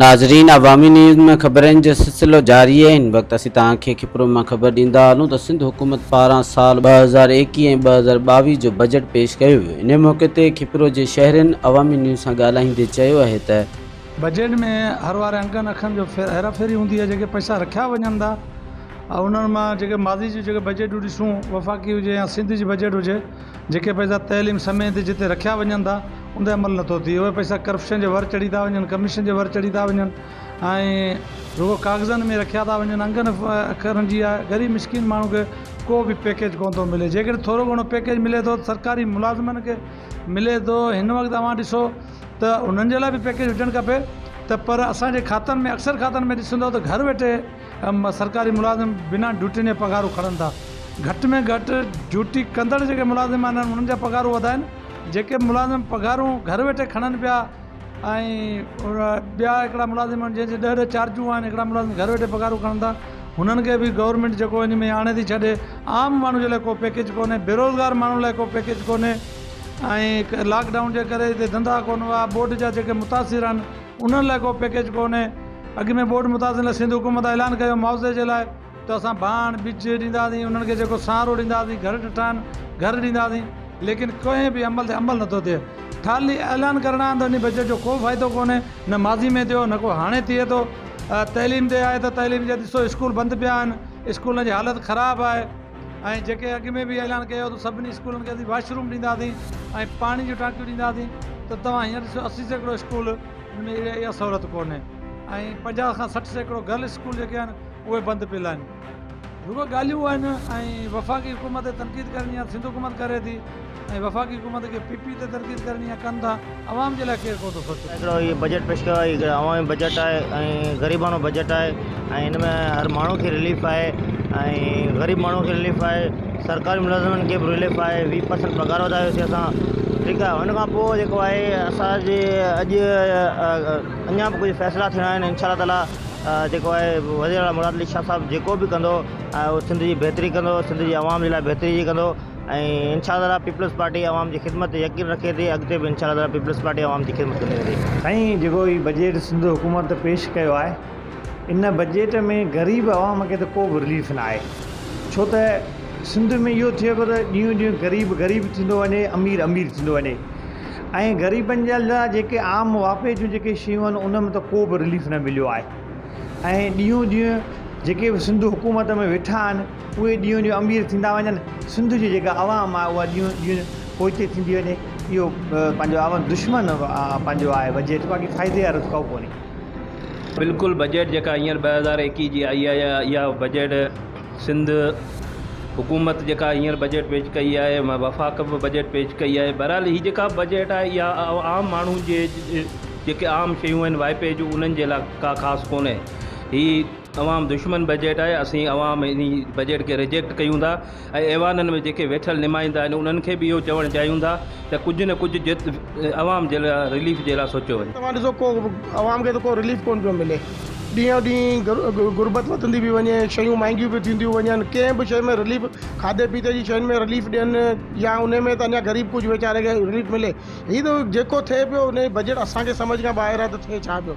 ناظرين عوامي نيوز ۾ خبرن جو سلسلو جاري آهي هن وقت اسين توهان کي کپرو مان خبر ڏيندا هلون ته سنڌ حڪومت پاران سال ٻه هزار ايڪيهه ۽ ٻه هزار ٻاويهه جو بجيٽ پيش ڪيو ويو انهي موقعي تي کپرو جي شهرين عوامي نيوز سان ڳالهائيندي چيو آهي ته بجيٽ ۾ هر واري انگن اکن جو هيرا ڦيري هوندي آهي جيڪي پئسا رکيا وڃن ٿا ۽ انهن مان جيڪي ماضي جي جيڪي بجيٽون ڏسون وفاقي هجي يا سنڌ جي بجيٽ هجي جيڪي پئسا تعليم سمي تي جتي رکيا وڃن ٿا ان تي عمل نٿو ٿئي اهي پئسا ڪرپشن جي ور چڙهي ٿا وڃن ڪميشن جي ور چڙهي ٿا وڃن ۽ رڳو ڪاغذن ۾ رکيا ٿا وڃن انگن اکرن جي آهي غريب مسڪين ماڻهو کي ڪو به پيڪيج ڪو نٿو ملي جي ڪڏهن ٿورو گهڻو پيڪيج ملي ٿو سرڪاري ملازمن کي ملي ٿو هن وقت اوهان ڏسو ته انهن جي لاء به پيڪيج هجڻ کپي ته پر اسانجي کاتن ۾ اڪثر کاتن ۾ ڏسندو ته گهر ويٺي سرڪاري ملازم بنا ڊيوٽين جا پگهارون کڻن ٿا گهٽ ۾ گهٽ ڊيوٽي ڪندڙ جيڪي ملازم آهن انهن جا پگهارون وڌائن جيڪي ملازم پگهارون گهر ويٺي کڻن پيا ۽ ٻيا هڪڙا ملازم جن جي ڏهه ڏهه چارجون آهن هڪڙا ملازم گهر ويٺي پگهارون کڻن ٿا هنن کي به گورمينٽ جيڪو ان ۾ آڻي ٿي ڇڏي عام ماڻهو جي لاء ڪو پيڪيج ڪونهي بيروزگار ماڻهن لاء ڪو پيڪيج ڪونهي ۽ لاڪ ڊائون جي ڪري هتي ڌندا ڪونه هئا ٻوڏ جا جيڪي متاثر آهن انهن لاء ڪو پيڪيج ڪونهي، اڳ ۾ ٻوڏ متاثرن لاء سنڌ حڪومت اعلان ڪيو هو معاوضي جي لاء ته اسان ڀاڻ، ٻج، ڏينداسين، انهن کي جيڪو سهارو ڏينداسين، گهر ڊٺائن، گهر ڏينداسين، ليڪن ڪنهن به عمل تي عمل نٿو ٿئي، خالي اعلان ڪرڻا آهن ته انهي بجيٽ جو ڪو فائدو ڪونهي، نه ماضي ۾ ٿيو نه ڪو هاڻي ٿئي ٿو، تعليم تي آهي ته تعليم جا ڏسو اسڪول بند پيا آهن، اسڪولن جي حالت خراب آهي. ۽ جيڪي اڳ ۾ به اعلان ڪيو هو ته سڀني اسڪولن کي اسين واش روم ڏينداسين ۽ پاڻي جون ٽانڪيون ڏينداسين ته توهان هينئر ڏسو اسي سيڪڙو اسڪول ان ۾ اهڙي اها سهولت ڪونهي ۽ پنجاهه کان سٺ سيڪڙو گرل اسڪول جيڪي آهن اهي بند پيل آهن. رڳو ڳالهيون آهن ۽ وفاقي حڪومت تي تنقيد ڪرڻي آهي ته سنڌ حڪومت ڪري ٿي. ۽ وفاقي حڪومت کي پي پي تي تنقيد ڪرڻي آهي ڪن ٿا عوام جي لاء ڪير ڪو ٿو سوچي. هڪڙو هي بجيٽ پيش ڪيو آهي هڪڙو عوامي بجيٽ آهي ۽ غريباڻو بجيٽ آهي ۽ هن ۾ هر ماڻهو کي رليف آهي ۽ غريب ماڻهو کي رليف آهي سرڪاري ملازمن کي به رليف آهي ويهه پرسنٽ پگهار وڌايو سي اسان ٺيڪ آهي هن کان پوء جيڪو آهي اسان جي اڄ اڃا به ڪجهه فيصلا ٿيڻا آهن انشاء الله تعالي جيڪو آهي وزير اعليٰ مراد علي شاهه صاحب جيڪو به ڪندو سنڌ جي بهتري ڪندو سنڌ جي عوام جي لاء بهتري جي ڪندو ۽ انشاء الله تعاليٰ پيپلز پارٽي عوام جي خدمت تي يقين رکي ٿي اڳتي به انشاء الله تعاليٰ پيپلز پارٽي عوام جي خدمت ڪندي رهندي. سائين جيڪو هي بجيٽ سنڌ حڪومت پيش ڪيو آهي ان بجيٽ ۾ غريب عوام کي ته ڪو به رليف نه آهي ڇو ته سنڌ ۾ اهو ٿئي پيو ته ڏينهون ڏينهون غريب غريب ٿيندو وڃي امير امير ٿيندو وڃي ۽ غريبن جي لاء جيڪي عام واپي جون جيڪي شيون آهن ان ۾ ته ڪو به رليف نه مليو آهي ۽ ڏينهون ڏينهون جيڪي به سنڌ حڪومت ۾ ويٺا آهن اهي ڏينهون ڏينهن امير ٿيندا وڃن سنڌ جي جيڪا عوام آهي اها ڏينهون ڏينهن پوئتي ٿيندي وڃي اهو پنهنجو عوام دشمن پنهنجو آهي بجيٽ باقي فائدي وارو ته ڪو ڪونهي. بلڪل بجيٽ جيڪا هينئر ٻه هزار ايڪيهه جي آئي آهي اها بجيٽ سنڌ حڪومت جيڪا هينئر بجيٽ پيش ڪئي آهي وفاق به بجيٽ پيش ڪئي آهي بهرحال هي جيڪا بجيٽ آهي اها عام ماڻهو جي جيڪي عام شيون آهن وائپي جون انهن جي لاء ڪا خاص ڪونهي هي عوام دشمن بجيٽ آهي، اسين عوام انهي بجيٽ کي ريجيڪٽ ڪيون ٿا ۽ ايوانن ۾ جيڪي ويٺل نمائندا آهن انهن کي به اهو چوڻ چاهيون ٿا ته ڪجهه نه ڪجهه جت عوام جي لاء رليف جي لاء سوچيو وڃي. توهان ڏسو ڪو عوام کي ته ڪو رليف ڪونه پيو ملي ڏينهون ڏينهن غربت وڌندي پي وڃي شيون مهانگيون پيون ٿينديون وڃن ڪنهن به شي ۾ رليف کاڌي پيتي جي شين ۾ رليف ڏين يا انهي ۾ ته اڃا غريب ڪجهه ويچاري کي رليف ملي هي ته جيڪو ٿئي پيو انهي بجيٽ اسان کي سمجهه کان ٻاهر آهي ته ٿئي ڇا پيو.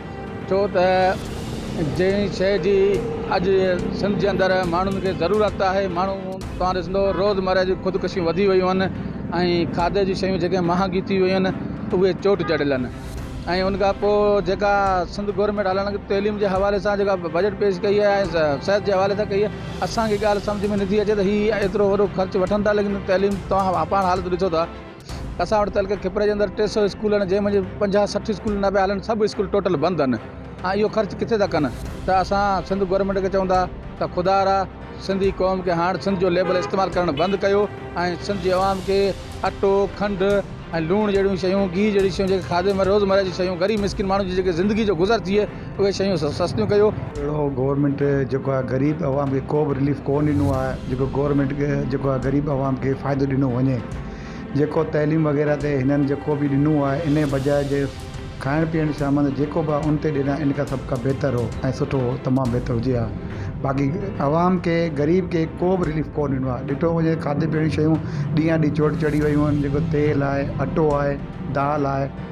ڇو ته جنهن شيء جي اڄ سنڌ جي اندر ماڻهن کي ضرورت آهي ماڻهو توهان ڏسندو روزمره جون خودڪشيون وڌي ويون آهن ۽ کاڌي جون شيون جيڪي مهانگي ٿي ويون آهن اهي چوٽ چڙهيل آهن ۽ ان کان پوء جيڪا سنڌ گورنمينٽ هلڻ تعليم جي حوالي سان جيڪا بجيٽ پيش ڪئي آهي ۽ صحت جي حوالي سان ڪئي آهي اسان کي ڳالهه سمجهه ۾ نٿي اچي ته هي ايترو وڏو خرچ وٺن ٿا ليڪن تعليم توهان پاڻ حالت ڏسو ٿا اسان وٽ تعلقي کپري جي اندر ٽي سؤ اسڪول آهن جنهن منجهه پنجاهه سٺ اسڪول نه پيا هلن سڀ اسڪول ٽوٽل بند آهن ۽ اهو خرچ ڪٿي ٿا ڪن ته اسان سنڌ گورنمينٽ کي چون ٿا ته خدا را سنڌي قوم کي هاڻ سنڌ جو ليبل استعمال ڪرڻ بند ڪيو ۽ سنڌ جي عوام کي اٽو کنڊ ۽ لوڻ جهڙيون شيون گيهه جهڙي شيون جيڪي کاڌي روزمره جي شيون غريب مسڪين ماڻهو جي جيڪي زندگي جو گذر ٿئي اهي شيون سستيون ڪيو. اهڙو گورنمينٽ جيڪو آهي غريب عوام کي ڪو به رليف ڪو ڏنو آهي جيڪو گورنمينٽ کي جيڪو آهي غريب عوام کي فائدو ڏنو وڃي جيڪو تعليم وغيره تي هنن جيڪو به ڏنو آهي ان جي بجاء جي کائڻ پيئڻ سامان جيڪو به آهي ان تي ڏينهن آهي ان کان سڀ کان بهتر هو ۽ سٺو هو تمام بهتر هجي ها باقي عوام کي غريب کي ڪو به رليف ڪو ڏنو آهي ڏٺو وڃي کاڌي پيئڻ جون شيون ڏينهان ڏينهن چوٽ چڙهي ويون آهن جيڪو تيل آهي اٽو آهي دال آهي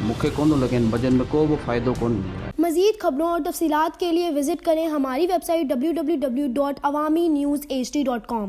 مون کي ڪون ٿو لڳي هن بجن ۾ ڪو به فائدو ڪون ملي. مزيد خبرون اور تفصيلات کے ليے وزٽ ڪرين ھماري ويب سائيٽ www.awaminewshd.com.